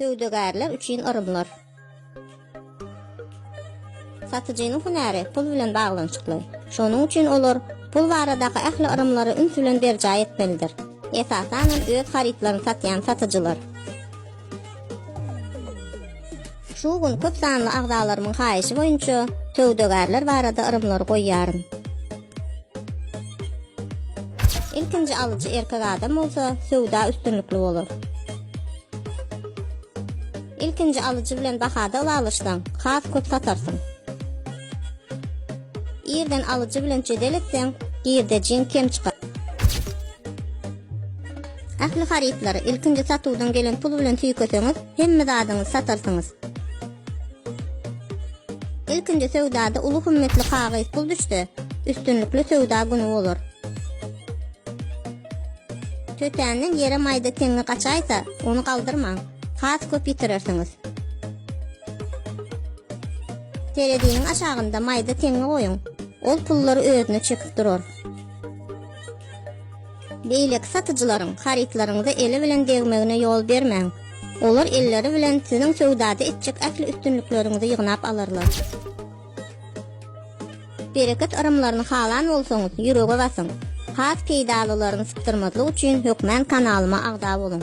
Söwdagärler üçin yrymlar. Satyjynyň hünäri pul bilen baglanyşykly. Şonuň üçin olar pul baradaky ähli yrymlary üns bilen berjaý etmelidir. Esasan hem öz harytlaryny satýan satyjylar. Şu gün köp sanly agzalarymyň haýyşy boýunça söwdagärler barada yrymlary goýýaryn. Ilkinji alyjy erkek adam bolsa, söwda üstünlikli bolar. Ilkinji alyjy bilen bahada ylalaşsaň, has köp satarsyň. Irden alyjy bilen jedel etseň, girdejiň kem çykar. Ähli harytlary ilkinji satuwdan gelen pul bilen tüýkeseňiz, hemme zadyňyzy satarsyňyz. Ilkinji söwdada uly hümmetli kagyz pul düşse, üstünlikli söwda güni bolar. Tötänden ýere maýda teňňi gaçaýsa, ony galdyrmaň. Has köp ýitirersiňiz. Tereziniň aşagynda maýda teňňi goýuň. Ol pullary özüne çekip durar. Beýleki satyjylaryň harytlaryňyza eli bilen degmegine ýol bermäň. Olar elleri bilen siziň söwdada etjek ähli üstünlikleriňizi ýygnap alarlar. Bereket yrymlaryny halan bolsaňyz, ýürege basyň. Has peýdalylaryny sypdyrmazlyk üçin hökmän kanalyma agza boluň.